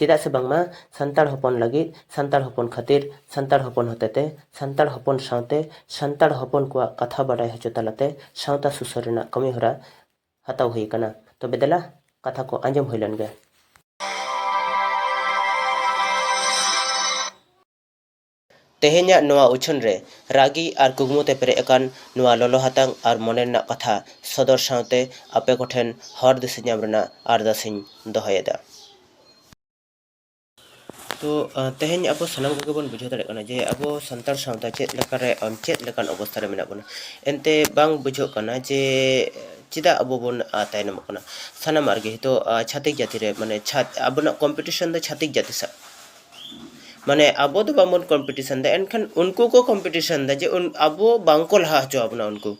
ᱪᱮᱫᱟᱜ ᱥᱮ ᱵᱟᱝᱢᱟ ᱥᱟᱱᱛᱟᱲ ᱦᱚᱯᱚᱱ ᱞᱟᱹᱜᱤᱫ ᱥᱟᱱᱛᱟᱲ ᱦᱚᱯᱚᱱ ᱠᱷᱟᱹᱛᱤᱨ ᱥᱟᱱᱛᱟᱲ ᱦᱚᱯᱚᱱ ᱦᱚᱛᱮᱛᱮ ᱥᱟᱱᱛᱟᱲ ᱦᱚᱯᱚᱱ ᱥᱟᱶᱛᱮ ᱥᱟᱱᱛᱟᱲ ᱦᱚᱯᱚᱱ ᱠᱚᱣᱟᱜ ᱠᱟᱛᱷᱟ ᱵᱟᱰᱟᱭ ᱦᱚᱪᱚ ᱛᱟᱞᱟᱛᱮ ᱥᱟᱶᱛᱟ ᱥᱩᱥᱟᱹᱨ ᱨᱮᱱᱟᱜ ᱠᱟᱹᱢᱤ ᱦᱚᱨᱟ ᱦᱟᱛᱟᱣ ᱦᱩᱭ ᱟᱠᱟᱱᱟ ᱛᱚᱵᱮ ᱫᱮᱞᱟ ᱠᱟᱛᱷᱟ ᱠᱚ ᱟᱸᱡᱚᱢ ᱦᱩᱭ ᱞᱮᱱ ᱜᱮ ᱛᱮᱦᱮᱧᱟᱜ ᱱᱚᱣᱟ ᱩᱪᱷᱟᱹᱱ ᱨᱮ ᱨᱟᱹᱜᱤ ᱟᱨ ᱠᱩᱠᱢᱩ ᱛᱮ ᱯᱮᱨᱮᱡ ᱟᱠᱟᱱ ᱱᱚᱣᱟ ᱞᱚᱞᱚ ᱦᱟᱛᱟᱝ ᱟᱨ ᱢᱚᱱᱮ ᱨᱮᱱᱟᱜ ᱠᱟᱛᱷᱟ ᱥᱚᱫᱚᱨ ᱥᱟᱶᱛᱮ ᱟᱯᱮ ᱠᱚ ᱴᱷᱮᱱ ᱦᱚᱨ ᱫᱤᱥᱟᱹ ᱧᱟᱢ ᱨᱮᱱᱟᱜ ᱟᱨᱫᱟᱥ ᱤᱧ ᱫᱚᱦᱚ ᱮᱫᱟ᱾ ᱛᱚ ᱛᱮᱦᱮᱧ ᱟᱵᱚ ᱥᱟᱱᱟᱢ ᱠᱚᱜᱮ ᱵᱚᱱ ᱵᱩᱡᱷᱟᱹᱣ ᱫᱟᱲᱮᱭᱟᱜ ᱠᱟᱱᱟ ᱡᱮ ᱟᱵᱚ ᱥᱟᱱᱛᱟᱲ ᱥᱟᱶᱛᱟ ᱪᱮᱫ ᱞᱮᱠᱟ ᱨᱮ ᱪᱮᱫ ᱞᱮᱠᱟᱱ ᱚᱵᱚᱥᱛᱟ ᱨᱮ ᱢᱮᱱᱟᱜ ᱵᱚᱱᱟ᱾ ᱮᱱᱛᱮ ᱵᱟᱝ ᱵᱩᱡᱷᱟᱹᱜ ᱠᱟᱱᱟ ᱡᱮ ᱪᱮᱫᱟᱜ ᱟᱵᱚ ᱵᱚᱱ ᱛᱟᱭᱱᱚᱢᱚᱜ ᱠᱟᱱᱟ ᱥᱟᱱᱟᱢᱟᱜ ᱨᱮᱜᱮ ᱱᱤᱛᱚᱜ ᱪᱷᱟᱹᱛᱤᱠ ᱡᱟᱹᱛᱤ ᱨᱮ ᱢᱟᱱᱮ ᱟᱵᱚᱱᱟᱜ ᱠᱚᱢᱯᱤᱴᱤᱥᱚᱱ ᱫᱚ ᱪᱷᱟᱹᱛᱤᱠ ᱡᱟᱹᱛᱤ ᱥᱟᱶ᱾ ᱢᱟᱱᱮ ᱟᱵᱚ ᱫᱚ ᱵᱟᱝᱵᱚᱱ ᱠᱚᱢᱯᱤᱴᱤᱥᱚᱱ ᱮᱫᱟ ᱮᱱᱠᱷᱟᱱ ᱩᱱᱠᱩ ᱠᱚ ᱠᱚᱢᱯᱤᱴᱤᱥᱚᱱ ᱮᱫᱟ ᱡᱮ ᱟᱵᱚ ᱵᱟᱝᱠᱚ ᱞᱟᱦᱟ ᱦᱚᱪᱚ ᱟᱵᱚᱱᱟ ᱩᱱᱠᱩ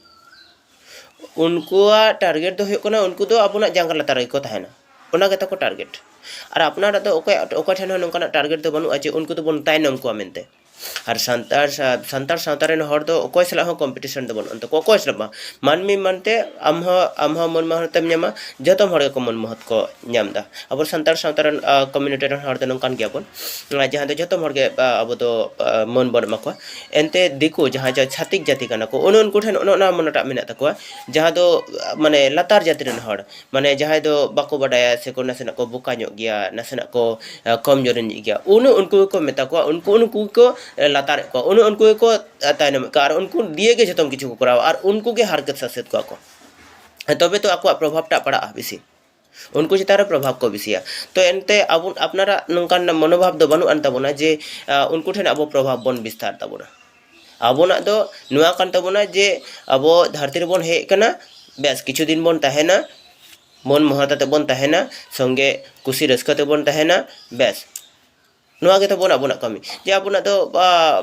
ᱩᱱᱠᱩᱣᱟᱜ ᱴᱟᱨᱜᱮᱴ ᱫᱚ ᱦᱩᱭᱩᱜ ᱠᱟᱱᱟ ᱩᱱᱠᱩ ᱫᱚ ᱟᱵᱚᱱᱟᱜ ᱡᱟᱸᱜᱟ ᱞᱟᱛᱟᱨ ᱨᱮᱜᱮ ᱠᱚ ᱛᱟᱦᱮᱱᱟ ᱚᱱᱟ ᱜᱮᱛᱟ ᱠᱚ ᱴᱟᱨᱜᱮᱴ ᱟᱨ ᱟᱯᱱᱟᱨᱟᱜ ᱫᱚ ᱚᱠᱚᱭ ᱚᱠᱚᱭ ᱴᱷᱮᱱ ᱦᱚᱸ ᱱᱚᱝᱠᱟᱱᱟᱜ ᱴᱟᱨᱜᱮᱴ ᱫᱚ ᱵᱟᱹᱱᱩᱜᱼᱟ ᱡᱮ ᱩᱱᱠᱩ ᱫᱚᱵᱚᱱ ᱛᱟᱭᱱᱚᱢ ᱠᱚᱣᱟ ᱢᱮᱱᱛᱮ ᱟᱨ ᱥᱟᱱᱛᱟᱲ ᱥᱟᱱᱛᱟᱲ ᱥᱟᱶᱛᱟ ᱨᱮᱱ ᱦᱚᱲ ᱫᱚ ᱚᱠᱚᱭ ᱥᱟᱞᱟᱜ ᱦᱚᱸ ᱠᱚᱢᱯᱤᱴᱤᱥᱚᱱ ᱫᱚ ᱵᱟᱹᱱᱩᱜᱼᱟᱱ ᱛᱟᱠᱚᱣᱟ ᱚᱠᱚᱭ ᱥᱟᱞᱟᱜ ᱵᱟᱝ ᱢᱟᱹᱱᱢᱤ ᱢᱮᱱᱛᱮ ᱟᱢ ᱦᱚᱸ ᱟᱢ ᱦᱚᱸ ᱢᱟᱹᱱ ᱢᱚᱦᱚᱛᱮᱢ ᱧᱟᱢᱟ ᱡᱚᱛᱚ ᱦᱚᱲ ᱜᱮᱠᱚ ᱢᱟᱹᱱ ᱢᱚᱦᱚᱛ ᱠᱚ ᱧᱟᱢ ᱮᱫᱟ ᱟᱵᱚ ᱥᱟᱱᱛᱟᱲ ᱥᱟᱶᱛᱟ ᱨᱮᱱ ᱠᱚᱢᱤᱭᱩᱱᱤᱴᱤ ᱨᱮᱱ ᱦᱚᱲ ᱫᱚ ᱱᱚᱝᱠᱟᱱ ᱜᱮᱭᱟ ᱵᱚᱱ ᱡᱟᱦᱟᱸ ᱫᱚ ᱡᱚᱛᱚ ᱦᱚᱲ ᱜᱮ ᱟᱵᱚ ᱫᱚ ᱢᱟᱹᱱ ᱵᱚᱱ ᱮᱢᱟ ᱠᱚᱣᱟ ᱮᱱᱛᱮ ᱫᱤᱠᱩ ᱡᱟᱦᱟᱸᱭ ᱡᱟᱦᱟᱸᱭ ᱪᱷᱟᱹᱛᱤᱠ ᱡᱟᱹᱛᱤ ᱠᱟᱱᱟ ᱠᱚ ᱚᱱᱮ ᱩᱱᱠᱩ ᱴᱷᱮᱱ ᱚᱱᱮ ᱚᱱᱟ ᱢᱚᱱᱮᱴᱟᱜ ᱢᱮᱱᱟᱜ ᱛᱟᱠᱚᱣᱟ ᱡᱟᱦᱟᱸ ᱫᱚ ᱢᱟᱱᱮ ᱞᱟᱛᱟᱨ ᱡᱟᱹᱛᱤ ᱨᱮᱱ ᱦᱚᱲ ᱢᱟᱱᱮ ᱡᱟᱦᱟᱸᱭ ᱫᱚ ᱵᱟᱠᱚ ᱵᱟᱰᱟᱭᱟ ᱥᱮ ᱠᱚ ᱱᱟᱥᱮᱱᱟᱜ ᱠᱚ ᱵᱚᱠᱟ ᱧᱚᱜ ᱜᱮᱭᱟ ᱱᱟᱥᱮᱱᱟᱜ ᱠᱚ ᱠᱚᱢ ᱡᱳᱨ ᱧᱚᱜ ᱜᱮᱭᱟ ᱚᱱᱮ ᱩᱱᱠᱩ ᱜᱮᱠᱚ ᱢᱮᱛᱟ ᱠᱚᱣᱟ ᱩᱱᱠᱩ ᱩᱱᱠᱩ ᱜᱮᱠᱚ ᱞᱟᱛᱟᱨᱮᱫ ᱠᱚᱣᱟ ᱚᱱᱮ ᱩᱱᱠᱩ ᱜᱮᱠᱚ ᱛᱟᱭᱱᱚᱢᱮᱫ ᱠᱚᱣᱟ ᱟᱨ ᱩᱱᱠᱩ ᱫᱤᱭᱮ ᱜᱮ ᱡᱚᱛᱚ ᱠᱤᱪᱷᱩ ᱠᱚ ᱠᱚᱨᱟᱣᱟ ᱟᱨ ᱩᱱᱠᱩ ᱜᱮ ᱦᱟᱨᱠᱮᱛ ᱥᱟᱥᱮᱛ ᱠᱚᱣᱟ ᱠᱚ ᱛᱚᱵᱮ ᱛᱚ ᱟᱠᱚᱣᱟᱜ ᱯᱨᱚᱵᱷᱟᱵᱽ ᱴᱟᱜ ᱯᱟᱲᱟᱜᱼᱟ ᱵᱮᱥᱤ ᱩᱱᱠᱩ ᱪᱮᱛᱟᱱ ᱨᱮ ᱯᱨᱚᱵᱷᱟᱵᱽ ᱠᱚ ᱵᱮᱥᱤᱭᱟ ᱛᱚ ᱮᱱᱛᱮ ᱟᱵᱚ ᱟᱯᱱᱟᱨᱟᱜ ᱱᱚᱝᱠᱟᱱ ᱢᱚᱱᱳᱵᱷᱟᱵᱽ ᱫᱚ ᱵᱟᱹᱱᱩᱜ ᱟᱱ ᱛᱟᱵᱚᱱᱟ ᱡᱮ ᱩᱱᱠᱩ ᱴᱷᱮᱱ ᱟᱵᱚ ᱯᱨᱚᱵᱷᱟᱵᱽ ᱵᱚᱱ ᱵᱤᱥᱛᱟᱨ ᱛᱟᱵᱚᱱᱟ ᱟᱵᱚᱱᱟᱜ ᱫᱚ ᱱᱚᱣᱟ ᱠᱟᱱ ᱛᱟᱵᱚᱱᱟ ᱡᱮ ᱟᱵᱚ ᱫᱷᱟᱹᱨᱛᱤ ᱨᱮᱵᱚᱱ ᱦᱮᱡ ᱠᱟᱱᱟ ᱵᱮᱥ ᱠᱤᱪᱷᱩ ᱫᱤᱱ ᱵᱚᱱ ᱛᱟᱦᱮᱱᱟ ᱢᱚᱱ ᱢᱚᱦᱚᱛ ᱟᱛᱮ ᱵᱚᱱ ᱛᱟᱦᱮᱱᱟ ᱥᱚᱝᱜᱮ ᱠᱩᱥᱤ ᱨᱟᱹᱥᱠᱟᱹ ᱛᱮᱵᱚᱱ ᱛᱟᱦᱮᱱᱟ ᱵᱮᱥ ᱱᱚᱣᱟ ᱜᱮ ᱛᱟᱵᱚᱱ ᱟᱵᱚᱱᱟᱜ ᱠᱟᱹᱢᱤ ᱡᱮ ᱟᱵᱚᱱᱟᱜ ᱫᱚ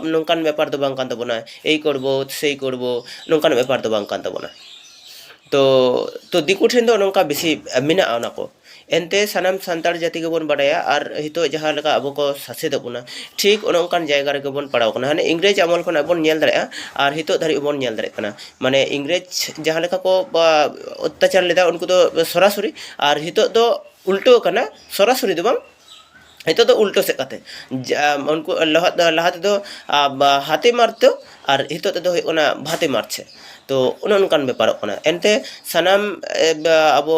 ᱱᱚᱝᱠᱟᱱ ᱵᱮᱯᱟᱨ ᱫᱚ ᱵᱟᱝ ᱠᱟᱱ ᱛᱟᱵᱚᱱᱟ ᱮᱭ ᱠᱚᱨᱵᱳ ᱥᱮᱭ ᱠᱚᱨᱵᱳ ᱱᱚᱝᱠᱟᱱ ᱵᱮᱯᱟᱨ ᱫᱚ ᱵᱟᱝ ᱠᱟᱱ ᱛᱟᱵᱚᱱᱟ ᱛᱚ ᱛᱚ ᱫᱤᱠᱩ ᱴᱷᱮᱱ ᱫᱚ ᱱᱚᱝᱠᱟ ᱵᱮᱥᱤ ᱢᱮᱱᱟᱜᱼᱟ ᱚᱱᱟ ᱠᱚ ᱮᱱᱛᱮ ᱥᱟᱱᱟᱢ ᱥᱟᱱᱛᱟᱲ ᱡᱟᱹᱛᱤ ᱜᱮᱵᱚᱱ ᱵᱟᱰᱟᱭᱟ ᱟᱨ ᱱᱤᱛᱚᱜ ᱡᱟᱦᱟᱸ ᱞᱮᱠᱟ ᱟᱵᱚ ᱠᱚ ᱥᱟᱥᱮᱛᱮᱫ ᱵᱚᱱᱟ ᱴᱷᱤᱠ ᱚᱱᱮ ᱚᱱᱠᱟᱱ ᱡᱟᱭᱜᱟ ᱨᱮᱜᱮ ᱵᱚᱱ ᱯᱟᱲᱟᱣ ᱠᱟᱱᱟ ᱦᱟᱱᱮ ᱤᱝᱨᱮᱡᱽ ᱟᱢᱚᱞ ᱠᱷᱚᱱᱟᱜ ᱵᱚᱱ ᱧᱮᱞ ᱫᱟᱲᱮᱭᱟᱜᱼᱟ ᱟᱨ ᱱᱤᱛᱚᱜ ᱫᱷᱟᱹᱨᱤᱡ ᱵᱚᱱ ᱧᱮᱞ ᱫᱟᱲᱮᱭᱟᱜ ᱠᱟᱱᱟ ᱢᱟᱱᱮ ᱤᱝᱨᱮᱡᱽ ᱡᱟᱦᱟᱸ ᱞᱮᱠᱟ ᱠᱚ ᱚᱛᱛᱟᱪᱟᱨ ᱞᱮᱫᱟ ᱩᱱᱠᱩ ᱫᱚ ᱥᱚᱨᱟᱥᱚᱨᱤ ᱟᱨ ᱱᱤᱛᱚᱜ ᱫᱚ ᱩᱞᱴᱟᱹᱣ ᱠᱟᱱᱟ ᱥᱚᱨᱟᱥᱚᱨᱤ ᱫᱚ ᱵᱟᱝ ᱱᱤᱛᱚᱜ ᱫᱚ ᱩᱞᱴᱟᱹ ᱥᱮᱫ ᱠᱟᱛᱮ ᱩᱱᱠᱩ ᱞᱟᱦᱟ ᱛᱮᱫᱚ ᱦᱟᱛᱮ ᱢᱟᱨ ᱛᱚ ᱟᱨ ᱱᱤᱛᱚᱜ ᱛᱮᱫᱚ ᱦᱩᱭᱩᱜ ᱠᱟᱱᱟ ᱵᱷᱟᱛᱮ ᱢᱟᱨ ᱪᱷᱮ ᱛᱚ ᱚᱱᱮ ᱚᱱᱠᱟᱱ ᱵᱮᱯᱟᱨᱚᱜ ᱠᱟᱱᱟ ᱮᱱᱛᱮ ᱥᱟᱱᱟᱢ ᱟᱵᱚ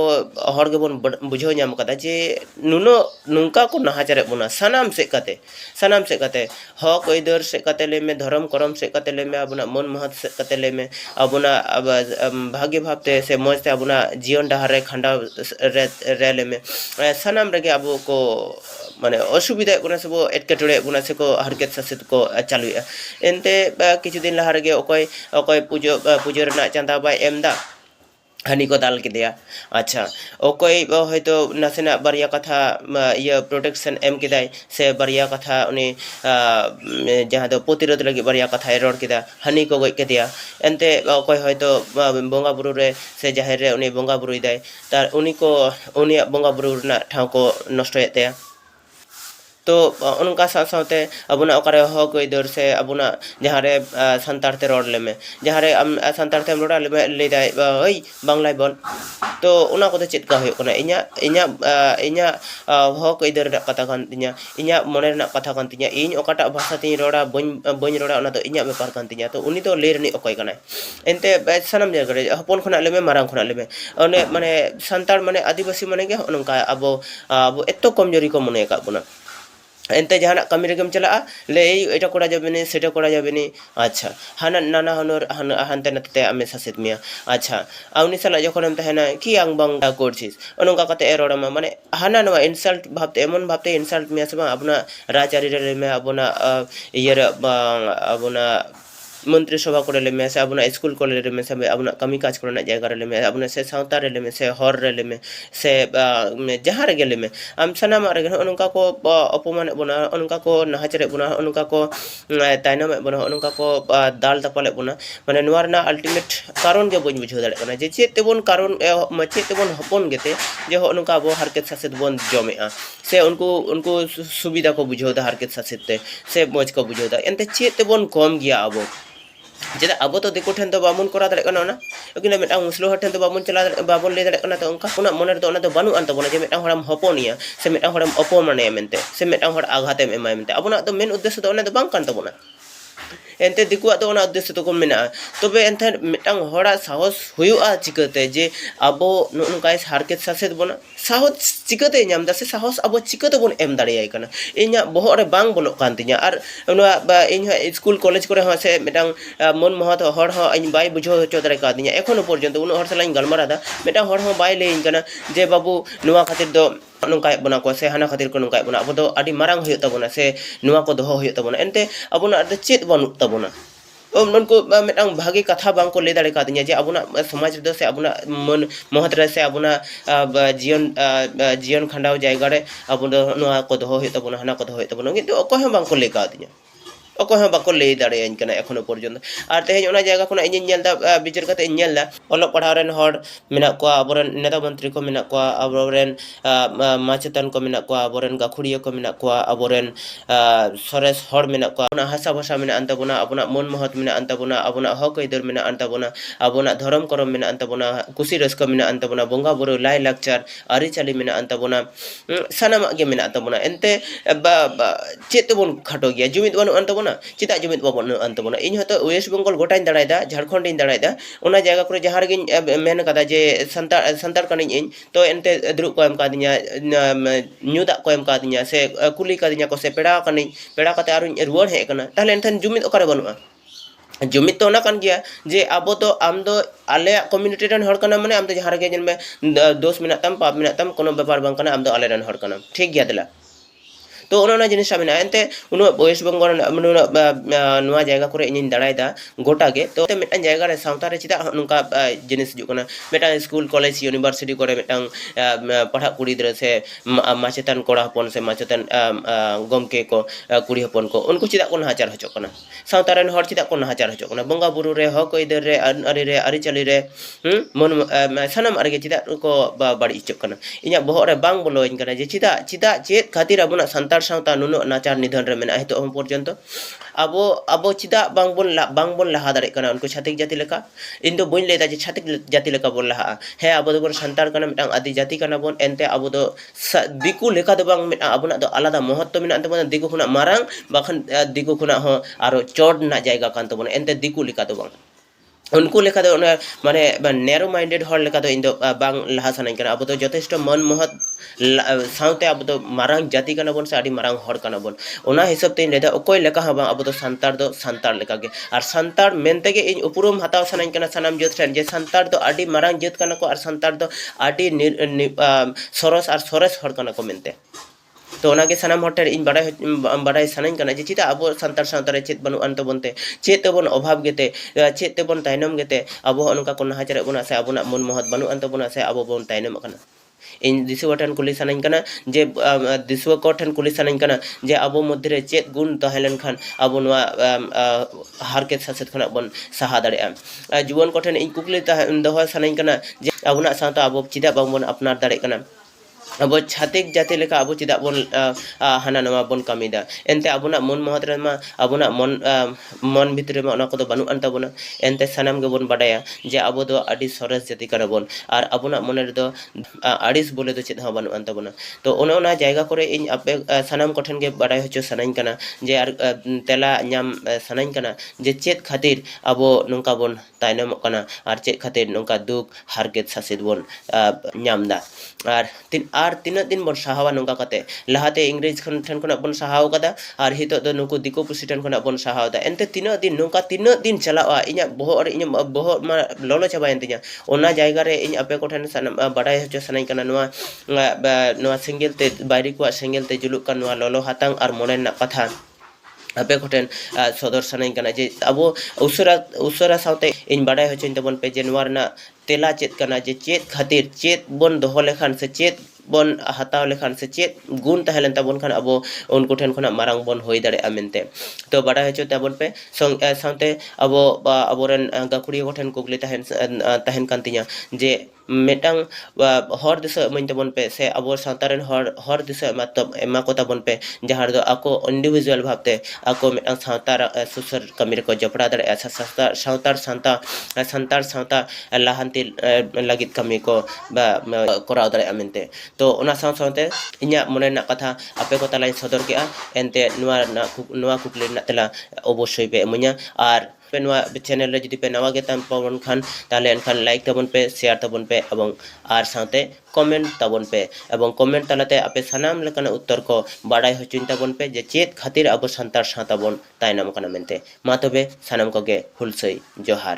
ᱦᱚᱲ ᱜᱮᱵᱚᱱ ᱵᱩᱡᱷᱟᱹᱣ ᱧᱟᱢ ᱠᱟᱫᱟ ᱡᱮ ᱱᱩᱱᱟᱹᱜ ᱱᱚᱝᱠᱟ ᱠᱚ ᱱᱟᱦᱟᱪᱟᱨᱮᱜ ᱵᱚᱱᱟ ᱥᱟᱱᱟᱢ ᱥᱮᱫ ᱠᱟᱛᱮ ᱥᱟᱱᱟᱢ ᱥᱮᱫ ᱠᱟᱛᱮ ᱦᱚᱠ ᱟᱹᱭᱫᱟᱹᱨ ᱥᱮᱫ ᱠᱟᱛᱮ ᱞᱟᱹᱭ ᱢᱮ ᱫᱷᱚᱨᱚᱢ ᱠᱚᱨᱚᱢ ᱥᱮᱫ ᱠᱟᱛᱮ ᱞᱟᱹᱭ ᱢᱮ ᱟᱵᱚᱱᱟᱜ ᱢᱟᱹᱱ ᱢᱚᱦᱚᱛ ᱥᱮᱫ ᱠᱟᱛᱮ ᱞᱟᱹᱭ ᱢᱮ ᱟᱵᱚᱱᱟᱜ ᱵᱷᱟᱜᱮ ᱵᱷᱟᱵ ᱛᱮ ᱥᱮ ᱢᱚᱡᱽ ᱛᱮ ᱟᱵᱚᱱᱟᱜ ᱡᱤᱭᱚᱱ ᱰᱟᱦᱟᱨ ᱨᱮ ᱠᱷᱟᱸᱰᱟᱣ ᱨᱮ ᱞᱟᱹᱭ ᱢᱮ ᱥᱟᱱᱟᱢ ᱨᱮᱜᱮ ᱟᱵᱚ ᱠᱚ ᱢᱟᱱᱮ ᱚᱥᱩᱵᱤᱫᱟᱭᱮᱫ ᱵᱚᱱᱟ ᱥᱮᱠᱚ ᱮᱴᱠᱮᱴᱚᱬᱮᱭᱮᱫ ᱵᱚᱱᱟ ᱥᱮᱠᱚ ᱦᱟᱨᱠᱮᱛ ᱥᱟᱥᱮᱛ ᱠᱚ ᱪᱟᱹᱞᱩᱭᱮᱫᱼᱟ ᱮᱱᱛᱮ ᱠᱤᱪᱷᱩ ᱫᱤᱱ ᱞᱟᱦᱟ ᱨᱮᱜᱮ ᱚᱠᱚᱭ ᱚᱠᱚᱭ ᱯᱩᱡᱟᱹ ᱯᱩᱡᱟᱹ ᱨᱮᱱᱟᱜ ᱪᱟᱸᱫᱟ ᱵᱟᱭ ᱮᱢᱫᱟ ᱦᱟᱹᱱᱤ ᱠᱚ ᱫᱟᱞ ᱠᱮᱫᱮᱭᱟ ᱟᱪᱪᱷᱟ ᱚᱠᱚᱭ ᱦᱚᱭᱛᱳ ᱱᱟᱥᱮᱱᱟᱜ ᱵᱟᱨᱭᱟ ᱠᱟᱛᱷᱟ ᱤᱭᱟᱹ ᱯᱨᱳᱴᱮᱠᱥᱮᱱ ᱮᱢ ᱠᱮᱫᱟᱭ ᱥᱮ ᱵᱟᱨᱭᱟ ᱠᱟᱛᱷᱟ ᱩᱱᱤ ᱡᱟᱦᱟᱸ ᱫᱚ ᱯᱨᱚᱛᱤᱨᱳᱫᱷ ᱞᱟᱹᱜᱤᱫ ᱵᱟᱨᱭᱟ ᱠᱟᱛᱷᱟᱭ ᱨᱚᱲ ᱠᱮᱫᱟ ᱦᱟᱹᱱᱤ ᱠᱚ ᱜᱚᱡ ᱠᱮᱫᱮᱭᱟ ᱮᱱᱛᱮ ᱚᱠᱚᱭ ᱦᱚᱭᱛᱳ ᱵᱚᱸᱜᱟᱼᱵᱩᱨᱩ ᱨᱮ ᱥᱮ ᱡᱟᱦᱮᱨ ᱨᱮ ᱩᱱᱤ ᱵᱚᱸᱜᱟᱼᱵᱩᱨᱩᱭᱮᱫᱟᱭ ᱛᱟᱨ ᱩᱱᱤ ᱠᱚ ᱩᱱᱤᱭᱟᱜ ᱵᱚᱸᱜᱟᱼᱵᱩᱨᱩ ᱨᱮᱱᱟᱜ ᱴᱷᱟᱶ ᱠᱚ ᱱᱚᱥᱴᱚᱭᱮᱫ ᱛᱟᱭᱟ ᱛᱚ ᱚᱱᱠᱟ ᱥᱟᱶ ᱥᱟᱶᱛᱮ ᱟᱵᱚᱱᱟᱜ ᱚᱠᱟᱨᱮ ᱦᱚᱠ ᱟᱹᱭᱫᱟᱹᱨ ᱥᱮ ᱟᱵᱚᱱᱟᱜ ᱡᱟᱦᱟᱸᱨᱮ ᱥᱟᱱᱛᱟᱲ ᱛᱮ ᱨᱚᱲ ᱞᱮᱢᱮ ᱡᱟᱦᱟᱸᱨᱮ ᱟᱢ ᱥᱟᱱᱛᱟᱲ ᱛᱮᱢ ᱨᱚᱲᱟ ᱞᱟᱹᱭᱫᱟᱭ ᱳᱭ ᱵᱟᱝᱞᱟᱭ ᱵᱚᱞ ᱛᱚ ᱚᱱᱟ ᱠᱚᱫᱚ ᱪᱮᱫ ᱞᱮᱠᱟ ᱦᱩᱭᱩᱜ ᱠᱟᱱᱟ ᱤᱧᱟᱹᱜ ᱤᱧᱟᱹᱜ ᱤᱧᱟᱹᱜ ᱦᱚᱠ ᱟᱹᱭᱫᱟᱹᱨ ᱨᱮᱱᱟᱜ ᱠᱟᱛᱷᱟ ᱠᱟᱱ ᱛᱤᱧᱟᱹ ᱤᱧᱟᱹᱜ ᱢᱚᱱᱮ ᱨᱮᱱᱟᱜ ᱠᱟᱛᱷᱟ ᱠᱟᱱ ᱛᱤᱧᱟᱹ ᱤᱧ ᱚᱠᱟᱴᱟᱜ ᱵᱷᱟᱥᱟ ᱛᱤᱧ ᱨᱚᱲᱟ ᱵᱟᱹᱧ ᱨᱚᱲᱟ ᱚᱱᱟ ᱫᱚ ᱤᱧᱟᱹᱜ ᱵᱮᱯᱟᱨ ᱠᱟᱱ ᱛᱤᱧᱟᱹ ᱛᱚ ᱩᱱᱤ ᱫᱚ ᱞᱟᱹᱭ ᱨᱤᱱᱤᱡ ᱚᱠᱚᱭ ᱠᱟᱱᱟᱭ ᱮᱱᱛᱮ ᱥᱟᱱᱟᱢ ᱡᱟᱭᱜᱟ ᱨᱮ ᱦᱚᱯᱚᱱ ᱠᱷᱚᱱᱟᱜ ᱞᱟᱹᱭᱢᱮ ᱢᱟᱨᱟᱝ ᱠᱷᱚᱱᱟᱜ ᱞᱟᱹᱭᱢᱮ ᱚᱱᱮ ᱢᱟᱱᱮ ᱥᱟᱱᱛᱟᱲ ᱢᱟᱱᱮ ᱟᱹᱫᱤᱵᱟᱹᱥᱤ ᱢᱟᱱᱮ ᱜᱮ ᱦᱚᱸᱜᱼᱚ ᱱᱚᱝᱠᱟ ᱟᱵᱚ ᱟᱵᱚ ᱮᱛᱚ ᱠᱚᱢᱡᱚᱨᱤ ᱠᱚ ᱢᱚᱱᱮ ᱟᱠᱟᱫ ᱵᱚᱱᱟ ᱮᱱᱛᱮ ᱡᱟᱦᱟᱱᱟᱜ ᱠᱟᱹᱢᱤ ᱨᱮᱜᱮᱢ ᱪᱟᱞᱟᱜᱼᱟ ᱞᱟᱹᱭ ᱮᱭ ᱮᱴᱟ ᱠᱚᱨᱟ ᱡᱟᱵᱮ ᱱᱤ ᱥᱮᱴᱟ ᱠᱚᱨᱟ ᱡᱟᱵᱮ ᱱᱤ ᱟᱪᱪᱷᱟ ᱦᱟᱱᱟ ᱱᱟᱱᱟ ᱦᱩᱱᱟᱹᱨ ᱦᱟᱱᱛᱮ ᱱᱟᱛᱮ ᱛᱮ ᱟᱢᱮ ᱥᱟᱥᱮᱛ ᱢᱮᱭᱟ ᱟᱪᱪᱷᱟ ᱟᱨ ᱩᱱᱤ ᱥᱟᱞᱟᱜ ᱡᱚᱠᱷᱚᱱᱮᱢ ᱛᱟᱦᱮᱱᱟ ᱠᱤ ᱟᱢ ᱵᱟᱝ ᱚᱱᱟ ᱠᱚᱨᱪᱤᱥ ᱚᱱᱮ ᱚᱱᱠᱟ ᱠᱟᱛᱮ ᱮ ᱨᱚᱲ ᱟᱢᱟ ᱢᱟᱱᱮ ᱦᱟᱱᱟ ᱱᱚᱣᱟ ᱤᱱᱥᱟᱞᱴ ᱵᱷᱟᱵᱛᱮ ᱮᱢᱚᱱ ᱵᱷᱟᱵᱛᱮ ᱤᱱᱥᱟᱞᱴ ᱢᱮᱭᱟ ᱥᱮ ᱵᱟᱝ ᱟᱵᱚᱱᱟᱜ ᱨᱟᱡᱽᱼᱟᱹᱨᱤ ᱨᱮ ᱞᱟᱹᱭ ᱢᱮ ᱟᱵᱚᱱᱟᱜ ᱤᱭᱟᱹᱨᱮ ᱵᱟᱝ ᱟᱵᱚᱱᱟᱜ ᱢᱚᱱᱛᱨᱤ ᱥᱚᱵᱷᱟ ᱠᱚᱨᱮ ᱞᱟᱹᱭ ᱢᱮ ᱥᱮ ᱟᱵᱚᱱᱟᱜ ᱤᱥᱠᱩᱞ ᱠᱚᱞᱮᱡᱽ ᱨᱮ ᱞᱟᱹᱭ ᱢᱮ ᱥᱮ ᱟᱵᱚᱱᱟᱜ ᱠᱟᱹᱢᱤ ᱠᱟᱡᱽ ᱠᱚᱨᱮᱱᱟᱜ ᱡᱟᱭᱜᱟ ᱨᱮ ᱞᱟᱹᱭ ᱢᱮ ᱟᱵᱚᱱᱟᱜ ᱥᱮ ᱥᱟᱶᱛᱟ ᱨᱮ ᱞᱟᱹᱭ ᱢᱮ ᱥᱮ ᱦᱚᱨ ᱨᱮ ᱞᱟᱹᱭ ᱢᱮ ᱥᱮ ᱡᱟᱦᱟᱸ ᱨᱮᱜᱮ ᱞᱟᱹᱭ ᱢᱮ ᱟᱢ ᱥᱟᱱᱟᱢᱟᱜ ᱨᱮᱜᱮ ᱱᱚᱜᱼᱚ ᱱᱚᱝᱠᱟ ᱠᱚ ᱚᱯᱚᱢᱟᱱᱮᱫ ᱵᱚᱱᱟ ᱱᱚᱜᱼᱚ ᱱᱚᱝᱠᱟ ᱠᱚ ᱱᱟᱦᱟᱪᱟᱨᱮᱫ ᱵᱚᱱᱟ ᱱᱚᱜᱼᱚ ᱱᱚᱝᱠᱟ ᱠᱚ ᱛᱟᱭᱱᱚᱢᱮᱫ ᱵᱚᱱᱟ ᱱᱚᱜᱼᱚ ᱱᱚᱝᱠᱟ ᱠᱚ ᱫᱟᱞ ᱫᱟᱯᱟᱞᱮᱫ ᱵᱚᱱᱟ ᱢᱟᱱᱮ ᱱᱚᱣᱟ ᱨᱮᱱᱟᱜ ᱟᱞᱴᱤᱢᱮᱴ ᱠᱟᱨᱚᱱ ᱜᱮ ᱵᱟᱹᱧ ᱵᱩᱡᱷᱟᱹᱣ ᱫᱟᱲᱮᱭᱟᱜ ᱠᱟᱱᱟ ᱡᱮ ᱪᱮᱫ ᱛᱮᱵᱚᱱ ᱠᱟᱨᱚᱱ ᱪᱮᱫ ᱛᱮᱵᱚᱱ ᱦᱚᱯᱚᱱ ᱜᱮᱛᱮ ᱡᱮ ᱱᱚᱜᱼᱚ ᱱᱚᱝᱠᱟ ᱟᱵᱚ ᱦᱟᱨᱠᱮᱛ ᱥᱟᱥᱮᱛ ᱵᱚᱱ ᱡᱚᱢᱮᱫᱼᱟ ᱥᱮ ᱩᱱᱠᱩ ᱩᱱᱠᱩ ᱥᱩᱵᱤᱫᱷᱟ ᱠᱚ ᱵᱩᱡᱷᱟᱹᱣ ᱮᱫᱟ ᱦᱟᱨᱠᱮᱛ ᱥᱟᱥᱮᱛ ᱛᱮ ᱥᱮ ᱢᱚᱡᱽ ᱠᱚ ᱵᱩᱡᱷᱟᱹᱣ ᱮᱫᱟ ᱮᱱᱛᱮ ᱪᱮᱫ ᱛᱮᱵᱚᱱ ᱠᱚᱢ ᱜᱮᱭᱟ ᱟᱵᱚ ᱪᱮᱫᱟᱜ ᱟᱵᱚ ᱫᱚ ᱫᱤᱠᱩ ᱴᱷᱮᱱ ᱫᱚ ᱵᱟᱵᱚᱱ ᱠᱚᱨᱟᱣ ᱫᱟᱲᱮᱭᱟᱜ ᱠᱟᱱᱟ ᱚᱱᱟ ᱠᱤᱱᱛᱩ ᱢᱤᱫᱴᱟᱝ ᱢᱩᱥᱞᱟᱹ ᱦᱚᱲ ᱴᱷᱮᱱ ᱫᱚ ᱵᱟᱵᱚᱱ ᱪᱟᱞᱟᱣ ᱫᱟᱲᱮᱭᱟᱜ ᱵᱟᱵᱚᱱ ᱞᱟᱹᱭ ᱫᱟᱲᱮᱭᱟᱜ ᱠᱟᱱᱟ ᱛᱚ ᱚᱱᱠᱟ ᱚᱱᱟ ᱢᱚᱱᱮ ᱨᱮᱫᱚ ᱚᱱᱟ ᱫᱚ ᱵᱟᱹᱱᱩᱜ ᱟᱱ ᱛᱟᱵᱚᱱᱟ ᱡᱮ ᱢᱤᱫᱴᱟᱝ ᱦᱚᱲᱮᱢ ᱦᱚᱯᱚᱱᱮᱭᱟ ᱥᱮ ᱢᱤᱫᱴᱟᱝ ᱦᱚᱲᱮᱢ ᱚᱯᱚᱢᱟᱱᱮᱭᱟ ᱢᱮᱱᱛᱮ ᱥᱮ ᱢᱤᱫᱴᱟᱝ ᱦᱚᱲ ᱟᱜᱷᱟᱛᱮᱢ ᱮᱢᱟᱭᱟ ᱢᱮᱱᱛᱮ ᱟᱵᱚᱱᱟᱜ ᱫᱚ ᱢᱮᱱ ᱩᱫᱽᱫᱮᱥᱥᱚ ᱫᱚ ᱚᱱᱟ ᱫᱚ ᱵᱟᱝ ᱠᱟᱱ ᱛᱟᱵᱚᱱᱟ ᱮᱱᱛᱮ ᱫᱤᱠᱩᱣᱟᱜ ᱫᱚ ᱚᱱᱟ ᱩᱫᱽᱫᱮᱥᱥᱚ ᱛᱟᱠᱚ ᱢᱮᱱᱟᱜᱼᱟ ᱛᱚᱵᱮ ᱮᱱᱛᱮ ᱢᱤᱫᱴᱟᱝ ᱦᱚᱲᱟᱜ ᱥᱟᱦᱚᱥ ᱦᱩᱭᱩᱜᱼᱟ ᱪᱤᱠᱟᱹᱛᱮ ᱡᱮ ᱟᱵᱚ ᱱᱚᱜᱼᱚ ᱱᱚᱝᱠᱟᱭ ᱦᱟᱨᱠᱮᱛ ᱥᱟᱥᱮᱛ ᱵᱚᱱᱟ ᱥᱟᱦᱚᱥ ᱪᱤᱠᱟᱹᱛᱮᱭ ᱧᱟᱢ ᱮᱫᱟ ᱥᱮ ᱥᱟᱦᱚᱥ ᱟᱵᱚ ᱪᱤᱠᱟᱹ ᱛᱮᱵᱚᱱ ᱮᱢ ᱫᱟᱲᱮᱭᱟᱭ ᱠᱟᱱᱟ ᱤᱧᱟᱹᱜ ᱵᱚᱦᱚᱜ ᱨᱮ ᱵᱟᱝ ᱵᱚᱞᱚᱜ ᱠᱟᱱ ᱛᱤᱧᱟᱹ ᱟᱨ ᱱᱚᱣᱟ ᱤᱧ ᱦᱚᱸ ᱤᱥᱠᱩᱞ ᱠᱚᱞᱮᱡᱽ ᱠᱚᱨᱮ ᱦᱚᱸ ᱥᱮ ᱢᱤᱫᱴᱟᱝ ᱢᱟᱹᱱ ᱢᱚᱦᱚᱛ ᱦᱚᱲ ᱦᱚᱸ ᱤᱧ ᱵᱟᱭ ᱵᱩᱡᱷᱟᱹᱣ ᱦᱚᱪᱚ ᱫᱟᱲᱮ ᱠᱟᱣᱫᱤᱧᱟ ᱮᱠᱷᱚᱱᱳ ᱯᱚᱨᱡᱚᱱᱛᱚ ᱩᱱᱟᱹᱜ ᱦᱚᱲ ᱥᱟᱞᱟᱜ ᱤᱧ ᱜᱟᱞᱢᱟᱨᱟᱣ ᱮᱫᱟ ᱢᱤᱫᱴᱟᱝ ᱦᱚᱲ ᱦᱚᱸ ᱵᱟᱭ ᱞᱟᱹᱭᱟᱹᱧ ᱠᱟᱱᱟ ᱡᱮ ᱵᱟᱹᱵᱩ ᱱᱚᱣᱟ ᱠᱷᱟᱹᱛᱤᱨ ᱫᱚ ᱱᱚᱝᱠᱟᱭᱮᱫ ᱵᱚᱱᱟ ᱠᱚ ᱥᱮ ᱦᱟᱱᱟ ᱠᱷᱟᱹᱛᱤᱨ ᱠᱚ ᱱᱚᱝᱠᱟᱭᱮᱫ ᱵᱚᱱᱟ ᱟᱵᱚ ᱫᱚ ᱟᱹᱰᱤ ᱢᱟᱨᱟᱝ ᱦᱩᱭᱩᱜ ᱛᱟᱵᱚᱱᱟ ᱥᱮ ᱱᱚᱣᱟ ᱠᱚ ᱫᱚᱦᱚ ᱦᱩᱭᱩᱜ ᱛᱟᱵᱚᱱᱟ ᱮᱱᱛᱮ ᱟᱵᱚᱱᱟᱜ ᱫᱚ ᱪᱮᱫ ᱵᱟᱹᱱᱩᱜ ᱛᱟᱵᱚᱱᱟ ᱩᱱᱠᱩ ᱢᱤᱫᱴᱟᱝ ᱵᱷᱟᱜᱮ ᱠᱟᱛᱷᱟ ᱵᱟᱝᱠᱚ ᱞᱟᱹᱭ ᱫᱟᱲᱮ ᱠᱟᱣᱫᱤᱧᱟ ᱡᱮ ᱟᱵᱚᱱᱟᱜ ᱥᱚᱢᱟᱡᱽ ᱨᱮᱫᱚ ᱥᱮ ᱟᱵᱚᱱᱟᱜ ᱢᱟᱹᱱ ᱢᱚᱦᱚᱛ ᱨᱮ ᱥᱮ ᱟᱵᱚᱱᱟᱜ ᱡᱤᱭᱚᱱ ᱡᱤᱭᱚᱱ ᱠᱷᱟᱸᱰᱟᱣ ᱡᱟᱭᱜᱟ ᱨᱮ ᱟᱵᱚ ᱫᱚ ᱦᱚᱸᱜᱼᱚ ᱱᱚᱣᱟ ᱠᱚ ᱫᱚᱦᱚ ᱦᱩᱭᱩᱜ ᱛᱟᱵᱚᱱᱟ ᱦᱟᱱᱟ ᱠᱚ ᱫᱚᱦᱚ ᱦᱩᱭᱩᱜ ᱛᱟᱵᱚᱱᱟ ᱠᱤᱱᱛᱩ ᱚᱠᱚᱭ ᱦᱚᱸ ᱵᱟᱝᱠᱚ ᱞᱟᱹᱭ ᱠᱟᱣᱫᱤᱧᱟ ᱚᱠᱚᱭ ᱦᱚᱸ ᱵᱟᱠᱚ ᱞᱟᱹᱭ ᱫᱟᱲᱮᱭᱟᱹᱧ ᱠᱟᱱᱟ ᱮᱠᱷᱚᱱᱳ ᱯᱚᱨᱡᱚᱱᱛᱚ ᱟᱨ ᱛᱮᱦᱮᱧ ᱚᱱᱟ ᱡᱟᱭᱜᱟ ᱠᱷᱚᱱᱟᱜ ᱤᱧᱤᱧ ᱧᱮᱞᱫᱟ ᱵᱤᱪᱟᱹᱨ ᱠᱟᱛᱮᱧ ᱧᱮᱞᱫᱟ ᱚᱞᱚᱜ ᱯᱟᱲᱦᱟᱣ ᱨᱮᱱ ᱦᱚᱲ ᱢᱮᱱᱟᱜ ᱠᱚᱣᱟ ᱟᱵᱚ ᱨᱮᱱ ᱱᱮᱛᱟ ᱢᱚᱱᱛᱨᱤ ᱠᱚ ᱢᱮᱱᱟᱜ ᱠᱚᱣᱟ ᱟᱵᱚ ᱨᱮᱱ ᱢᱟᱪᱮᱛᱟᱱ ᱠᱚ ᱢᱮᱱᱟᱜ ᱠᱚᱣᱟ ᱟᱵᱚ ᱨᱮᱱ ᱜᱟᱹᱠᱷᱩᱲᱤᱭᱟᱹ ᱠᱚ ᱢᱮᱱᱟᱜ ᱠᱚᱣᱟ ᱟᱵᱚ ᱨᱮᱱ ᱥᱚᱨᱮᱥ ᱦᱚᱲ ᱢᱮᱱᱟᱜ ᱠᱚᱣᱟ ᱟᱵᱚᱱᱟᱜ ᱦᱟᱥᱟ ᱵᱷᱟᱥᱟ ᱢᱮᱱᱟᱜ ᱟᱱ ᱛᱟᱵᱚᱱᱟ ᱟᱵᱚᱱᱟᱜ ᱢᱟᱹᱱ ᱢᱚᱦᱚᱛ ᱢᱮᱱᱟᱜ ᱟᱱ ᱛᱟᱵᱚᱱᱟ ᱟᱵᱚᱱᱟᱜ ᱦᱚᱸᱠ ᱟᱹᱭᱫᱟᱹᱨ ᱢᱮᱱᱟᱜ ᱟᱱ ᱛᱟᱵᱚᱱᱟ ᱟᱵᱚᱱᱟᱜ ᱫᱷᱚᱨᱚᱢ ᱠᱚᱨᱚᱢ ᱢᱮᱱᱟᱜ ᱟᱱ ᱛᱟᱵᱚᱱᱟ ᱠᱩᱥᱤ ᱨᱟᱹᱥᱠᱟᱹ ᱢᱮᱱᱟᱜ ᱟᱱ ᱛᱟᱵᱚᱱᱟ ᱵᱚᱸᱜᱟ ᱵᱩᱨᱩ ᱞᱟᱭ ᱞᱟᱠᱪᱟᱨ ᱟᱹᱨᱤᱪᱟᱹᱞᱤ ᱢᱮᱱᱟᱜ ᱟᱱ ᱛᱟᱵᱚᱱᱟ ᱥᱟᱱᱟᱢᱟᱜ ᱜᱮ ᱢᱮᱱᱟᱜ ᱛᱟᱵᱚᱱᱟ ᱮᱱᱛᱮ ᱪᱮᱫ ᱛᱮᱵᱚᱱ ᱠᱷᱟᱴᱚ ᱜᱮᱭᱟ ᱡᱩᱢᱤᱫ ᱵᱟᱹᱱᱩᱜ ᱟᱱ ᱛᱟᱵᱚᱱᱟ ᱪᱮᱫᱟᱜ ᱡᱩᱢᱤᱫ ᱵᱟᱹᱱᱩᱜ ᱟᱱ ᱛᱟᱵᱚᱱᱟ ᱤᱧ ᱦᱚᱭᱛᱳ ᱳᱭᱮᱥᱴ ᱵᱮᱝᱜᱚᱞ ᱜᱚᱴᱟᱧ ᱫᱟᱬᱟᱭᱮᱫᱟ ᱡᱷᱟᱲᱠᱷᱚᱸᱰᱤᱧ ᱫᱟᱬᱟᱭᱮᱫᱟ ᱚᱱᱟ ᱡᱟᱭᱜᱟ ᱠᱚᱨᱮ ᱡᱟᱦᱟᱸ ᱨᱮᱜᱮᱧ ᱢᱮᱱ ᱠᱟᱫᱟ ᱡᱮ ᱥᱟᱱᱛᱟᱲ ᱥᱟᱱᱛᱟᱲ ᱠᱟᱹᱱᱟᱹᱧ ᱤᱧ ᱛᱚ ᱮᱱᱛᱮ ᱫᱩᱲᱩᱵ ᱠᱚ ᱮᱢ ᱠᱟᱣᱫᱤᱧᱟ ᱧᱩ ᱫᱟᱜ ᱠᱚ ᱮᱢ ᱠᱟᱣᱫᱤᱧᱟ ᱥᱮ ᱠᱩᱞᱤ ᱠᱟᱣᱫᱤᱧᱟ ᱠᱚ ᱥᱮ ᱯᱮᱲᱟᱣ ᱠᱟᱹᱱᱟᱹᱧ ᱯᱮᱲᱟ ᱠᱟᱛᱮ ᱟᱨᱚᱧ ᱨᱩᱣᱟᱹᱲ ᱦᱮᱡ ᱠᱟᱱᱟ ᱛᱟᱦᱚᱞᱮ ᱮᱱᱠᱷᱟᱱ ᱡᱩᱢᱤᱫ ᱚᱠᱟᱨᱮ ᱵᱟᱹᱱᱩᱜᱼᱟ ᱡᱩᱢᱤᱫ ᱫᱚ ᱚᱱᱟ ᱠᱟᱱ ᱜᱮᱭᱟ ᱡᱮ ᱟᱵᱚ ᱫᱚ ᱟᱢ ᱫᱚ ᱟᱞᱮᱭᱟᱜ ᱠᱚᱢᱤᱱᱤᱴᱤ ᱨᱮᱱ ᱦᱚᱲ ᱠᱟᱱᱟᱢ ᱢᱟᱱᱮ ᱟᱢ ᱫᱚ ᱡᱟᱦᱟᱸ ᱨᱮᱜᱮ ᱧᱮᱞ ᱢᱮ ᱫᱳᱥ ᱢᱮᱱᱟᱜ ᱛᱟᱢ ᱯᱟᱯ ᱢᱮᱱᱟᱜ ᱛᱟᱢ ᱠᱳᱱᱳ ᱵᱮᱯᱟᱨ ᱵᱟᱝ ᱠᱟᱱᱟ ᱟᱢ ᱫᱚ ᱟᱞᱮ ᱨᱮᱱ ᱦᱚᱲ ᱠᱟᱱᱟᱢ ᱴᱷᱤᱠᱜᱮᱭᱟ ᱫᱮᱞᱟ ᱛᱚ ᱚᱱᱮ ᱚᱱᱟ ᱡᱤᱱᱤᱥᱴᱟ ᱢᱮᱱᱟᱜᱼᱟ ᱮᱱᱛᱮᱫ ᱩᱱᱟᱹᱜ ᱚᱭᱮᱥᱴ ᱵᱮᱝᱜᱚᱞ ᱨᱮᱱᱟᱜ ᱢᱟᱱᱮ ᱩᱱᱟᱹᱜ ᱱᱚᱣᱟ ᱡᱟᱭᱜᱟ ᱠᱚᱨᱮ ᱤᱧᱤᱧ ᱫᱟᱬᱟᱭᱮᱫᱟ ᱜᱚᱴᱟ ᱜᱮ ᱛᱚ ᱢᱤᱫᱴᱟᱝ ᱡᱟᱭᱜᱟ ᱨᱮ ᱥᱟᱶᱛᱟ ᱨᱮ ᱪᱮᱫᱟᱜ ᱦᱚᱸᱜᱼᱚ ᱱᱚᱝᱠᱟ ᱡᱤᱱᱤᱥ ᱦᱤᱡᱩᱜ ᱠᱟᱱᱟ ᱢᱤᱫᱴᱟᱝ ᱤᱥᱠᱩᱞ ᱠᱚᱞᱮᱡᱽ ᱤᱭᱩᱱᱤᱵᱷᱟᱨᱥᱤᱴᱤ ᱠᱚᱨᱮ ᱢᱤᱫᱴᱟᱝ ᱯᱟᱲᱦᱟᱜ ᱠᱩᱲᱤ ᱜᱤᱫᱽᱨᱟᱹ ᱥᱮ ᱢᱟᱪᱮᱛᱟᱱ ᱠᱚᱲᱟ ᱦᱚᱯᱚᱱ ᱥᱮ ᱢᱟᱪᱮᱛᱟᱱ ᱜᱚᱢᱠᱮ ᱠᱚ ᱠᱩᱲᱤ ᱦᱚᱯᱚᱱ ᱠᱚ ᱩᱱᱠᱩ ᱪᱮᱫᱟᱜ ᱠᱚ ᱱᱟᱦᱟᱪᱟᱨ ᱦᱚᱪᱚᱜ ᱠᱟᱱᱟ ᱥᱟᱶᱛᱟ ᱨᱮᱱ ᱦᱚᱲ ᱪᱮᱫᱟᱜ ᱠᱚ ᱱᱟᱦᱟᱪᱟᱨ ᱦᱚᱪᱚᱜ ᱠᱟᱱᱟ ᱵᱚᱸᱜᱟ ᱵᱳᱨᱳ ᱨᱮ ᱦᱚᱸᱠ ᱟᱹᱭᱫᱟᱹᱨ ᱨᱮ ᱟᱹᱱ ᱟᱹᱨᱤ ᱨᱮ ᱟᱹᱨᱤᱪᱟᱹᱞᱤ ᱨᱮ ᱥᱟᱱᱟᱢᱟᱜ ᱨᱮᱜᱮ ᱪᱮᱫᱟᱜ ᱠᱚ ᱵᱟᱹᱲᱤᱡ ᱦᱚᱪᱚᱜ ᱠᱟᱱᱟ ᱤᱧᱟᱹᱜ ᱵᱚᱦᱚᱜ ᱨᱮ ᱵᱟᱝ ᱵᱚᱞᱚ ᱟᱹᱧ ᱠᱟᱱᱟ ᱡᱮ ᱪᱮᱫᱟᱜ ᱪᱮᱫᱟᱜ ᱪᱮᱫ ᱠᱷᱟᱹᱛᱤᱨ ᱟᱵᱚᱱᱟᱜ ᱥᱟᱱᱛᱟᱲ ᱥᱟᱶᱛᱟ ᱱᱩᱱᱟᱹᱜ ᱱᱟᱪᱟᱨ ᱱᱤᱫᱷᱟᱹᱱ ᱨᱮ ᱢᱮᱱᱟᱜᱼᱟ ᱱᱤᱛᱚᱜ ᱦᱚᱸ ᱯᱚᱨᱡᱚᱱᱛᱚ ᱟᱵᱚ ᱟᱵᱚ ᱪᱮᱫᱟᱜ ᱵᱟᱝ ᱵᱚᱱ ᱵᱟᱝ ᱵᱚᱱ ᱞᱟᱦᱟ ᱫᱟᱲᱮᱜ ᱠᱟᱱᱟ ᱩᱱᱠᱩ ᱪᱷᱟᱹᱛᱤᱠ ᱡᱟᱹᱛᱤ ᱞᱮᱠᱟ ᱤᱧ ᱫᱚ ᱵᱟᱹᱧ ᱞᱟᱹᱭᱫᱟ ᱡᱮ ᱪᱷᱟᱹᱛᱤᱠ ᱡᱟᱹᱛᱤ ᱞᱮᱠᱟ ᱵᱚᱱ ᱞᱟᱦᱟᱜᱼᱟ ᱦᱮᱸ ᱟᱵᱚ ᱫᱚᱵᱚᱱ ᱥᱟᱱᱛᱟᱲ ᱠᱟᱱᱟ ᱢᱤᱫᱴᱟᱝ ᱟᱹᱫᱤ ᱡᱟᱹᱛᱤ ᱠᱟᱱᱟ ᱵᱚᱱ ᱮᱱᱛᱮ ᱟᱵᱚ ᱫᱚ ᱫᱤᱠᱩ ᱞᱮᱠᱟ ᱫᱚ ᱵᱟᱝ ᱢᱮᱫᱼᱟ ᱟᱵᱚᱱᱟᱜ ᱫᱚ ᱟᱞᱟᱫᱟ ᱢᱚᱦᱚᱛᱛᱚ ᱢᱮᱱᱟᱜ ᱛᱟᱵᱚᱱᱟ ᱫᱤᱠᱩ ᱠᱷᱚᱱᱟᱜ ᱢᱟᱨᱟᱝ ᱵᱟᱠᱷᱟᱱ ᱫᱤᱠᱩ ᱠᱷᱚᱱᱟᱜ ᱦᱚᱸ ᱟᱨᱚ ᱪᱚᱴ ᱨᱮᱱᱟᱜ ᱡᱟᱭᱜᱟ ᱠᱟᱱ ᱛᱟᱵᱚᱱᱟ ᱮᱱᱛᱮ ᱫᱤᱠᱩ ᱞᱮᱠᱟ ᱫᱚ ᱵᱟᱝ ᱩᱱᱠᱩ ᱞᱮᱠᱟ ᱫᱚ ᱚᱱᱮ ᱢᱟᱱᱮ ᱱᱮᱨᱳ ᱢᱟᱭᱤᱱᱰᱮᱰ ᱦᱚᱲ ᱞᱮᱠᱟ ᱫᱚ ᱤᱧ ᱫᱚ ᱵᱟᱝ ᱞᱟᱦᱟ ᱥᱟᱱᱟᱧ ᱠᱟᱱᱟ ᱟᱵᱚ ᱫᱚ ᱡᱚᱛᱷᱮᱥᱴᱚ ᱢᱟᱹᱱ ᱢᱚᱦᱚᱛ ᱥᱟᱶᱛᱮ ᱟᱵᱚ ᱫᱚ ᱢᱟᱨᱟᱝ ᱡᱟᱹᱛᱤ ᱠᱟᱱᱟ ᱵᱚᱱ ᱥᱮ ᱟᱹᱰᱤ ᱢᱟᱨᱟᱝ ᱦᱚᱲ ᱠᱟᱱᱟ ᱵᱚᱱ ᱚᱱᱟ ᱦᱤᱥᱟᱹᱵ ᱛᱤᱧ ᱞᱟᱹᱭᱫᱟ ᱚᱠᱚᱭ ᱞᱮᱠᱟ ᱦᱚᱸ ᱵᱟᱝ ᱟᱵᱚ ᱫᱚ ᱥᱟᱱᱛᱟᱲ ᱫᱚ ᱥᱟᱱᱛᱟᱲ ᱞᱮᱠᱟᱜᱮ ᱟᱨ ᱥᱟᱱᱛᱟᱲ ᱢᱮᱱᱛᱮᱜᱮ ᱤᱧ ᱩᱯᱨᱩᱢ ᱦᱟᱛᱟᱣ ᱥᱟᱱᱟᱧ ᱠᱟᱱᱟ ᱥᱟᱱᱟᱢ ᱡᱟᱹᱛ ᱴᱷᱮᱱ ᱡᱮ ᱥᱟᱱᱛᱟᱲ ᱫᱚ ᱟᱹᱰᱤ ᱢᱟᱨᱟᱝ ᱡᱟᱹᱛ ᱠᱟᱱᱟ ᱠᱚ ᱟᱨ ᱥᱟᱱᱛᱟᱲ ᱫᱚ ᱟᱹᱰᱤ ᱥᱚᱨᱚᱥ ᱟᱨ ᱥᱚᱨᱮᱥ ᱦᱚᱲ ᱠᱟᱱᱟ ᱠᱚ ᱢᱮᱱᱛᱮ ᱛᱚ ᱚᱱᱟᱜᱮ ᱥᱟᱱᱟᱢ ᱦᱚᱲ ᱴᱷᱮᱱ ᱤᱧ ᱵᱟᱰᱟᱭ ᱵᱟᱰᱟᱭ ᱥᱟᱱᱟᱧ ᱠᱟᱱᱟ ᱡᱮ ᱪᱮᱫᱟᱜ ᱟᱵᱚ ᱥᱟᱱᱛᱟᱲ ᱥᱟᱶᱛᱟ ᱨᱮ ᱪᱮᱫ ᱵᱟᱹᱱᱩᱜ ᱟᱱ ᱛᱟᱵᱚᱱ ᱛᱮ ᱪᱮᱫ ᱛᱮᱵᱚᱱ ᱚᱵᱷᱟᱵᱽ ᱜᱮᱛᱮ ᱪᱮᱫ ᱛᱮᱵᱚᱱ ᱛᱟᱭᱱᱚᱢ ᱜᱮᱛᱮ ᱟᱵᱚ ᱦᱚᱸᱜᱼᱚ ᱱᱚᱝᱠᱟ ᱠᱚ ᱱᱟᱦᱟᱪᱟᱨᱮᱫ ᱵᱚᱱᱟ ᱥᱮ ᱟᱵᱚᱱᱟᱜ ᱢᱟᱹᱱ ᱢᱚᱦᱚᱛ ᱵᱟᱹᱱᱩᱜ ᱟᱱ ᱛᱟᱵᱚᱱᱟ ᱥᱮ ᱟᱵᱚ ᱵᱚᱱ ᱛᱟᱭᱱᱚᱢᱚᱜ ᱠᱟᱱᱟ ᱤᱧ ᱫᱤᱥᱩᱣᱟᱹ ᱴᱷᱮᱱ ᱠᱩᱞᱤ ᱥᱟᱱᱟᱧ ᱠᱟᱱᱟ ᱡᱮ ᱫᱤᱥᱩᱣᱟᱹ ᱠᱚ ᱴᱷᱮᱱ ᱠᱩᱞᱤ ᱥᱟᱱᱟᱧ ᱠᱟᱱᱟ ᱡᱮ ᱟᱵᱚ ᱢᱚᱫᱽᱫᱷᱮ ᱨᱮ ᱪᱮᱫ ᱜᱩᱱ ᱛᱟᱦᱮᱸ ᱞᱮᱱᱠᱷᱟᱱ ᱟᱵᱚ ᱱᱚᱣᱟ ᱦᱟᱨᱠᱮᱛ ᱥᱟᱥᱮᱛ ᱠᱷᱚᱱᱟᱜ ᱵᱚᱱ ᱥᱟᱦᱟ ᱫᱟᱲᱮᱭᱟᱜᱼᱟ ᱟᱨ ᱡᱩᱣᱟᱹᱱ ᱠᱚ ᱴᱷᱮᱱ ᱤᱧ ᱠᱩᱠᱞᱤ ᱛᱟᱦᱮᱸ ᱫᱚᱦᱚ ᱥᱟᱱᱟᱧ ᱠᱟᱱᱟ ᱡᱮ ᱟᱵᱚᱱᱟᱜ ᱥᱟᱶᱛᱟ ᱟᱵᱚ ᱪᱮᱫᱟᱜ ᱵᱟᱝᱵᱚᱱ ᱟᱯᱱᱟᱨ ᱫᱟᱲᱮᱭᱟᱜ ᱠᱟᱱᱟ ᱟᱵᱚ ᱪᱷᱟᱹᱛᱤᱠ ᱡᱟᱹᱛᱤ ᱞᱮᱠᱟ ᱟᱵᱚ ᱪᱮᱫᱟᱜ ᱵᱚᱱ ᱦᱟᱱᱟ ᱱᱟᱣᱟ ᱵᱚᱱ ᱠᱟᱹᱢᱤᱭᱮᱫᱟ ᱮᱱᱛᱮ ᱟᱵᱚᱱᱟᱜ ᱢᱚᱱ ᱢᱚᱦᱚᱛ ᱨᱮᱢᱟ ᱟᱵᱚᱱᱟᱜ ᱢᱚᱱ ᱢᱚᱱ ᱵᱷᱤᱛᱨᱤ ᱨᱮᱢᱟ ᱚᱱᱟ ᱠᱚᱫᱚ ᱵᱟᱹᱱᱩᱜ ᱟᱱ ᱛᱟᱵᱚᱱᱟ᱾ ᱮᱱᱛᱮ ᱥᱟᱱᱟᱢ ᱜᱮᱵᱚᱱ ᱵᱟᱰᱟᱭᱟ ᱡᱮ ᱟᱵᱚ ᱫᱚ ᱟᱹᱰᱤ ᱥᱚᱨᱮᱥ ᱡᱟᱹᱛᱤ ᱠᱟᱱᱟ ᱵᱚᱱ ᱟᱨ ᱟᱵᱚᱱᱟᱜ ᱢᱚᱱᱮ ᱨᱮᱫᱚ ᱫᱟᱲᱮ ᱟᱨ ᱟᱹᱲᱤᱥ ᱵᱚᱞᱮ ᱫᱚ ᱪᱮᱫ ᱦᱚᱸ ᱵᱟᱹᱱᱩᱜ ᱟᱱ ᱛᱟᱵᱚᱱᱟ᱾ ᱛᱚ ᱚᱱᱮ ᱚᱱᱟ ᱡᱟᱭᱜᱟ ᱠᱚᱨᱮ ᱤᱧ ᱟᱯᱮ ᱥᱟᱱᱟᱢ ᱠᱚᱴᱷᱮᱱ ᱜᱮ ᱵᱟᱰᱟᱭ ᱦᱚᱪᱚ ᱥᱟᱱᱟᱧ ᱠᱟᱱᱟ ᱡᱮ ᱟᱨ ᱛᱮᱞᱟ ᱧᱟᱢ ᱥᱟᱱᱟᱧ ᱠᱟᱱᱟ ᱡᱮ ᱪᱮᱫ ᱠᱷᱟᱹᱛᱤᱨ ᱟᱵᱚ ᱱᱚᱝᱠᱟ ᱵᱚᱱ ᱛᱟᱭᱱᱚᱢᱚᱜ ᱠᱟᱱᱟ ᱟᱨ ᱪᱮᱫ ᱠᱷᱟᱹᱛᱤᱨ ᱱᱚᱝᱠᱟ ᱫᱩᱠ ᱦᱟᱨᱠᱮᱛ ᱥᱟᱥᱮᱛ ᱵᱚᱱ ᱧᱟᱢ ᱮᱫᱟ ᱟᱨ ᱟᱨ ᱛᱤᱱᱟᱹᱜ ᱫᱤᱱ ᱵᱚᱱ ᱥᱟᱦᱟᱣᱟ ᱱᱚᱝᱠᱟ ᱠᱟᱛᱮ ᱞᱟᱦᱟᱛᱮ ᱤᱝᱨᱮᱡᱽ ᱴᱷᱮᱱ ᱠᱷᱚᱱᱟᱜ ᱵᱚᱱ ᱥᱟᱦᱟᱣ ᱠᱟᱫᱟ ᱟᱨ ᱱᱤᱛᱚᱜ ᱫᱚ ᱱᱩᱠᱩ ᱫᱤᱠᱩ ᱯᱩᱥᱤ ᱴᱷᱮᱱ ᱠᱷᱚᱱᱟᱜ ᱵᱚᱱ ᱥᱟᱦᱟᱣ ᱮᱫᱟ ᱮᱱᱛᱮ ᱛᱤᱱᱟᱹᱜ ᱫᱤᱱ ᱱᱚᱝᱠᱟ ᱛᱤᱱᱟᱹᱜ ᱫᱤᱱ ᱪᱟᱞᱟᱜᱼᱟ ᱤᱧᱟᱹᱜ ᱵᱚᱦᱚᱜ ᱨᱮ ᱤᱧᱟᱹᱜ ᱵᱚᱦᱚᱜ ᱢᱟ ᱞᱚᱞᱚ ᱪᱟᱵᱟᱭᱮᱱ ᱛᱤᱧᱟᱹ ᱚᱱᱟ ᱡᱟᱭᱜᱟ ᱨᱮ ᱤᱧ ᱟᱯᱮ ᱠᱚᱴᱷᱮᱱ ᱥᱟᱱᱟᱢ ᱵᱟᱰᱟᱭ ᱦᱚᱪᱚ ᱥᱟᱱᱟᱧ ᱠᱟᱱᱟ ᱱᱚᱣᱟ ᱱᱚᱣᱟ ᱥᱮᱸᱜᱮᱞ ᱛᱮ ᱵᱟᱭᱨᱤ ᱠᱚᱣᱟᱜ ᱥᱮᱸᱜᱮᱞ ᱛᱮ ᱡᱩᱞᱩᱜ ᱠᱟᱱ ᱱᱚᱣᱟ ᱞᱚᱞᱚ ᱦᱟᱛᱟᱝ ᱟᱨ ᱢᱚᱱᱮ ᱨᱮᱱᱟᱜ ᱠᱟᱛᱷᱟ ᱟᱯᱮ ᱠᱚᱴᱷᱮᱱ ᱥᱚᱫᱚᱨ ᱥᱟᱱᱟᱧ ᱠᱟᱱᱟ ᱡᱮ ᱟᱵᱚ ᱩᱥᱟᱹᱨᱟ ᱩᱥᱟᱹᱨᱟ ᱥᱟᱶᱛᱮ ᱤᱧ ᱵᱟᱰᱟᱭ ᱦᱚᱪᱚᱧ ᱛᱟᱵᱚᱱ ᱯᱮ ᱡᱮ ᱱᱚᱣᱟ ᱨᱮᱱᱟᱜ ᱛᱮᱞᱟ ᱪᱮᱫ ᱠᱟᱱᱟ ᱡᱮ ᱪᱮᱫ ᱠᱷᱟᱹᱛᱤᱨ ᱪᱮᱫ ᱵᱚᱱ ᱫᱚᱦᱚ ᱞᱮᱠᱷᱟᱱ ᱥᱮ ᱪᱮᱫ ᱵᱚᱱ ᱦᱟᱛᱟᱣ ᱞᱮᱠᱷᱟᱱ ᱥᱮ ᱪᱮᱫ ᱜᱩᱱ ᱛᱟᱦᱮᱸ ᱞᱮᱱ ᱛᱟᱵᱚᱱ ᱠᱷᱟᱱ ᱟᱵᱚ ᱩᱱᱠᱩ ᱴᱷᱮᱱ ᱠᱷᱚᱱᱟᱜ ᱢᱟᱨᱟᱝ ᱵᱚᱱ ᱦᱩᱭ ᱫᱟᱲᱮᱭᱟᱜᱼᱟ ᱢᱮᱱᱛᱮ ᱛᱚ ᱵᱟᱰᱟᱭ ᱦᱚᱪᱚ ᱛᱟᱵᱚᱱ ᱯᱮ ᱥᱟᱶᱛᱮ ᱟᱵᱚ ᱟᱵᱚᱨᱮᱱ ᱜᱟᱹᱠᱷᱩᱲᱤᱭᱟᱹ ᱠᱚᱴᱷᱮᱱ ᱠᱩᱠᱞᱤ ᱛᱟᱦᱮᱱ ᱛᱟᱦᱮᱱ ᱠᱟᱱ ᱛᱤᱧᱟᱹ ᱡᱮ ᱢᱤᱫᱴᱟᱝ ᱦᱚᱨ ᱫᱤᱥᱟᱹ ᱮᱢᱟᱹᱧ ᱛᱟᱵᱚᱱ ᱯᱮ ᱥᱮ ᱟᱵᱚ ᱥᱟᱶᱛᱟ ᱨᱮᱱ ᱦᱚᱲ ᱦᱚᱨ ᱫᱤᱥᱟᱹ ᱮᱢᱟ ᱠᱚ ᱛᱟᱵᱚᱱ ᱯᱮ ᱡᱟᱦᱟᱸ ᱨᱮᱫᱚ ᱟᱠᱚ ᱤᱱᱰᱤᱵᱷᱤᱡᱩᱣᱟᱞ ᱵᱷᱟᱵᱽ ᱛᱮ ᱟᱠᱚ ᱢᱤᱫᱴᱟᱝ ᱥᱟᱶᱛᱟ ᱥᱩᱥᱟᱹᱨ ᱠᱟᱹᱢᱤ ᱨᱮᱠᱚ ᱡᱚᱯᱲᱟᱣ ᱫᱟᱲᱮᱭᱟᱜᱼᱟ ᱥᱮ ᱥᱟᱱᱛᱟᱲ ᱥᱟᱶᱛᱟ ᱥᱟᱱᱛᱟᱲ ᱥᱟᱶᱛᱟ ᱞᱟᱦᱟᱱᱛᱤ ᱞᱟᱹᱜᱤᱫ ᱠᱟᱹᱢᱤ ᱠᱚ ᱠᱚᱨᱟᱣ ᱫᱟᱲᱮᱭᱟᱜᱼᱟ ᱢᱮᱱᱛᱮ ᱛᱚ ᱚᱱᱟ ᱥᱟᱶ ᱥᱟᱶᱛᱮ ᱤᱧᱟᱹᱜ ᱢᱚᱱᱮ ᱨᱮᱱᱟᱜ ᱠᱟᱛᱷᱟ ᱟᱯᱮ ᱠᱚ ᱛᱟᱞᱟᱨᱤᱧ ᱥᱚᱫᱚᱨ ᱠᱮᱫᱼᱟ ᱮᱱᱛᱮ ᱱᱚᱣᱟ ᱨᱮᱱᱟᱜ ᱱᱚᱣᱟ ᱠᱩᱠᱞᱤ ᱨᱮᱱᱟᱜ ᱛᱮᱞᱟ ᱚᱵᱚᱥᱥᱳᱭ ᱯᱮ ᱤᱢᱟᱹᱧᱟ ᱟᱨ ᱯᱮ ᱱᱚᱣᱟ ᱪᱮᱱᱮᱞ ᱨᱮ ᱡᱩᱫᱤ ᱯᱮ ᱱᱟᱣᱟ ᱜᱮ ᱛᱟᱵᱚᱱ ᱠᱷᱟᱱ ᱛᱟᱦᱚᱞᱮ ᱮᱱᱠᱷᱟᱱ ᱞᱟᱭᱤᱠ ᱛᱟᱵᱚᱱ ᱯᱮ ᱥᱮᱭᱟᱨ ᱛᱟᱵᱚᱱ ᱯᱮ ᱮᱵᱚᱝ ᱟᱨ ᱥᱟᱶᱛᱮ ᱠᱚᱢᱮᱱᱴ ᱛᱟᱵᱚᱱ ᱯᱮ ᱮᱵᱚᱝ ᱠᱚᱢᱮᱱᱴ ᱛᱟᱞᱟᱛᱮ ᱟᱯᱮ ᱥᱟᱱᱟᱢ ᱞᱮᱠᱟᱱᱟᱜ ᱩᱛᱛᱚᱨ ᱠᱚ ᱵᱟᱰᱟᱭ ᱦᱚᱪᱚᱧ ᱛᱟᱵᱚᱱ ᱯᱮ ᱡᱮ ᱪᱮᱫ ᱠᱷᱟᱹᱛᱤᱨ ᱟᱵᱚ ᱥᱟᱱᱛᱟᱲ ᱥᱟᱶᱛᱟ ᱵᱚᱱ ᱛᱟᱭᱱᱚᱢ ᱟᱠᱟᱱᱟ ᱢᱮᱱᱛᱮ ᱢᱟ ᱛᱚᱵᱮ ᱥᱟᱱᱟᱢ ᱠᱚᱜᱮ ᱦᱩᱞᱥᱟᱹᱭ ᱡᱚᱦᱟᱨ